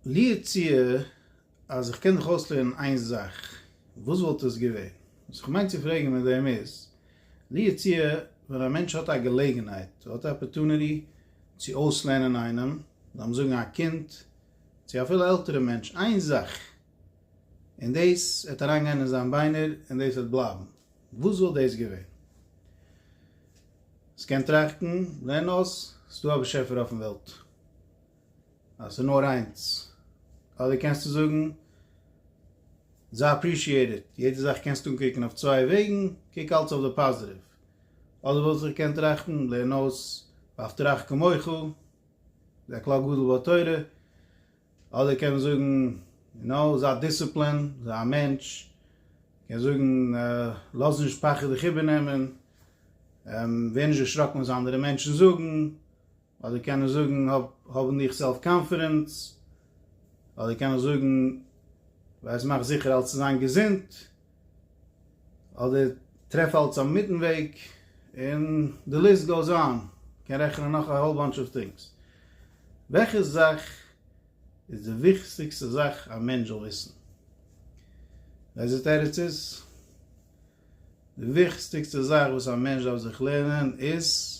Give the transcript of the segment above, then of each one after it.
לי יצוייר אז איך קען דיך אויסלערנען איין זאך, וואס וואלט עס געווען? וואס איך מיין צו פרעגן מיט דעם איז, לי יצוייר ווען א מענטש האט א געלעגנהייט, האט א אפערטוניטי צו אויסלערנען איינעם, לאמיר זאגן א קינד, צו אפילו עלטערע מענטש, איין זאך, און דאס וועט אריינגיין אין זיין ביינער און דאס וועט בלייבן. וואס וואלט דאס געווען? עס קען טראכטן, זען אויס, ס'איז דא א באשעפער אויפן וועלט. אז ס'איז נאר איינס. אדער קענסטו זאגן, זיי אפרישיעיטעד, יעדע זאך קענסטו אנקוקן אויף צוויי וועגן, קוק אלץ אויף די פאזיטיוו. אדער וואלט איך געקענט טראכטן, לערן אויס, ואפתרך כמוך, איז א כלל גדול בתורה, אדער קען מען זאגן, יו נאו, זיי דיסציפלין, זיי א מענטש, קען זאגן, לאז נישט פחד דיך איבערנעמען, ווער נישט דערשראקן וואס אנדערע מענטשן זאגן, אדער קען ער זאגן, האב אין דיך סעלף קאנפידענס, אדער קען ער זאגן, ווייס מאך זיכער אלס צו זיין געזונט. אדער טרעף אלץ א מיטן וועג, און די ליסט גאוס אן, כ'קען רעכענען נאך א האול באנטש אוו טינגס. וועלכע זאך איז די וויכטיגסטע זאך א מענטש זאל וויסן? איזה תירוץ איז? די וויכטיגסטע זאך וואס א מענטש דארף זיך לערנען איז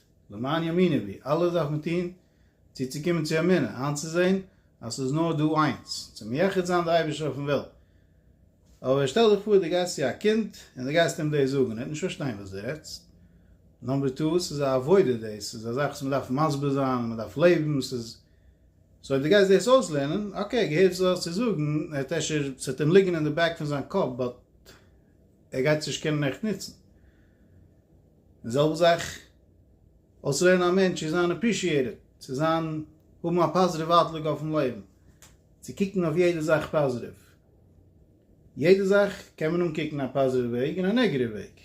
למען יאמינו בי, אלעס דארף מען טון צו צו קומען צו אמונה, איינצוזען אז ס'איז נאר דא איינס, צו מייחד זיין די אייבערשטער אויפן וועלט. אבער שטעל דיך פאר דו גייסט צו א קינד און דו גייסט אים דאס זאגן, ער וועט נישט פארשטיין וואס דו רעדסט. נאמבער טו, ס'איז א עבודה דאס, ס'איז א זאך וואס מען דארף מסביר זיין און מען דארף לעבן, ס'איז, סאו אויב דו גייסט דאס אויסלערנען, אקעי, געהערט וואס דו האסט צו זאגן, ער וועט אפשר, ס'וועט אים ליגן אין די בעק פון זיין קאפ, באט ער גייט עס נישט קענען עכט נוצן. און זעלבע זאך אויסרעדן א מענטש צו זיין עפרישיעטעד, צו זיין האבן א פאזיטיוו אוטלוק אויפן לעבן, צו קוקן אויף יעדע זאך פאזיטיוו. יעדע זאך קען מען אנקוקן א פאזיטיווע וועג און א נעגעטיווע וועג.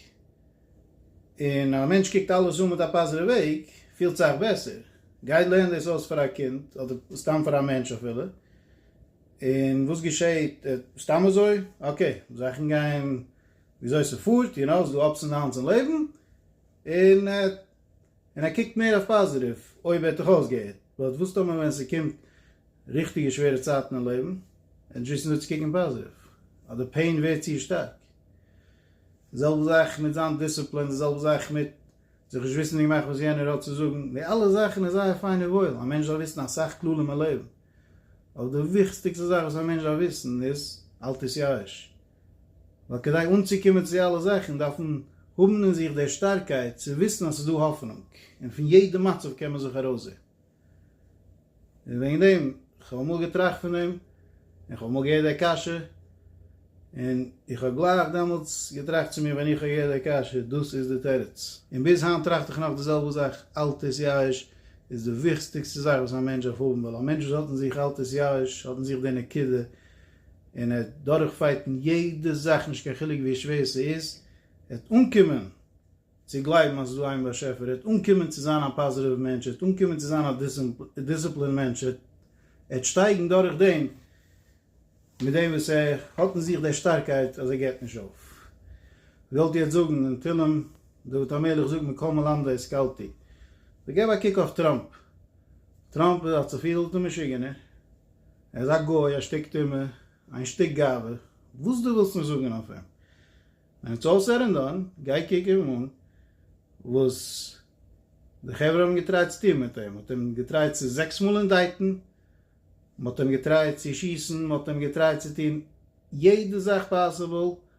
און א מענטש קוקט אלעס אן מיט א פאזיטיווע וועג, פילט זיך בעסער. גיי לערן דאס אויס פאר א קינד, אדער סתם פאר א מענטש אפילו, און וואס געשעהט? סתם אזוי? אקעי, זאכן גייען וויאזוי ס'פארט, יו נאו, ס'דא אפס ענד דאונס אין לעבן, און און ער קוקט מער אויף פאזיטיוו, אויב ווערט איך אויסגעהערט, באט וואס טאמער ווען ס'קומט ריכטיגע שווערע צייטן אין לעבן, ער דזשאוסט נישט צו קוקן פאזיטיוו, אז די פעין ווערט צו שטארק. די זעלבע זאך מיט זיין דיסציפלין, די זעלבע זאך מיט זיך נישט וויסן אינגעמאכט וואס יענער האט צו זאגן, די אלע זאכן איז זייער פיין און וואויל, א מענטש דארף וויסן אסאך כללים אין לעבן, אבער די וויכסטיגסטע זאך וואס א מענטש דארף וויסן איז, אל תתייאש. ווייל כדי אנצוקומען צו אלע זאכן דארף מען האבן אין זיך די שטארקייט צו וויסן אז ס'איז דא האפענונג, און פון יעדע מצב קען מען זיך ארויסזען. און וועגן דעם, כ'האב אמאל געטראכט פון דעם, און כ'האב אמאל געהערט די קשיא, און איך האב גלייך דעמאלטס געטראכט צו מיר ווען איך האב געהערט די קשיא, דאס איז די תירוץ. און ביז היינט טראכט איך נאך די זעלבע זאך, אל תתייאש איז די וויכסטיגסטע זאך וואס א מענטש דארף האבן, ווייל א מענטש וואס האט אין זיך אל תתייאש, האט אין זיך די נקודה און ער וועט דורכפייטן יעדע זאך נישט קיין חילוק ווי שווער ס'איז, ער וועט אנקומען צו גלייבן אז עס איז דא איין באשעפער, ער וועט אנקומען צו זיין א פאזיטיוו מענטש, ער וועט אנקומען צו זיין א דיסציפלין מענטש, ער וועט שטייגן דורך דעם, מיט דעם וואס ער האט אין זיך די שטארקייט אז ער געבט נישט אויף. געוואלט יעצט זאגן אין תהלים, דוד המלך זאגט מכל מלמדי השכלתי, אבער געב א קוק אויף טראמפ, טראמפ האט זיך פיל די משוגענער, ער איז א גוי, א שטיק טומאה, איין שטיק גאווה, וואס דו ווילסט נישט זאגן אויף אים. ווען איטס אלל סעד ענד דאן, גיי קוק אים אן, וואס די חברה האבן געטרייט צו טון מיט אים, מ'האט אים געטרייט צו זעקס מאל אינדייטן, מ'האט אים געטרייט צו שיסן, מ'האט אים געטרייט צו טון יעדע זאך פאסיבל,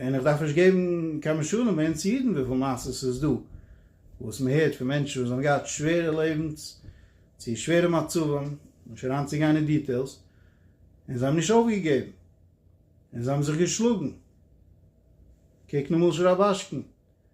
און איך דארף נישט געבן קיין משלים ווערן צו אידן וויפיל מעשות ס'איז דא וואס מען הערט פון מענטשן וואס זיי האבן געהאט שווערע לעבנס צו שווערע מצבים, נישט אריינצוגיין אין דיטעילס, און זיי האבן נישט אויפגעגעבן און זיי האבן זיך געשלאגן, קוק למשל רב אשכנ.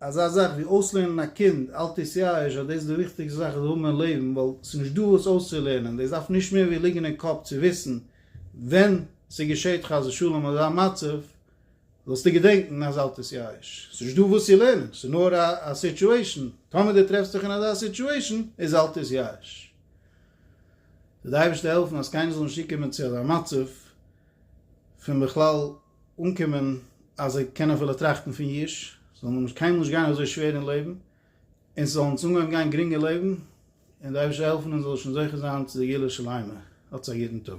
אזא זאך ווי אויסלערנען א קינד אל תתייאש אז דאס איז די וויכטיגסטע זאך וואס זיי האבן אין לעבן ווייל ס'איז נישט דא וואס אויסצולערנען דאס דארף נישט מער ווי ליגן אין קאפ צו וויסן ווען ס'געשעט חס ושלום אזא מצב זאלסטו געדענקן אז אל תתייאש ס'איז נישט דא וואס צו לערנען ס'איז נאר א סיטואשען טאמער דו טרעפסט דיך אין אזא סיטואשען איז אל תתייאש זאל די אייבערשטער העלפן אז קיינער זאל נישט צוקומען צו אזא מצב פון בכלל אנקומען אז זיי קענען אפילו טראכטן פון יש, זאל נאר קיינמאל נישט גיין אזוי שווער אין לעבן, אונז זאל אונז אנגעהויבן גיין גרינג אין לעבן, און די אייבערשטער העלפן אונז זאל שוין זוכה זיין צו די גאולה שלימה, האטס א גוטן טאג.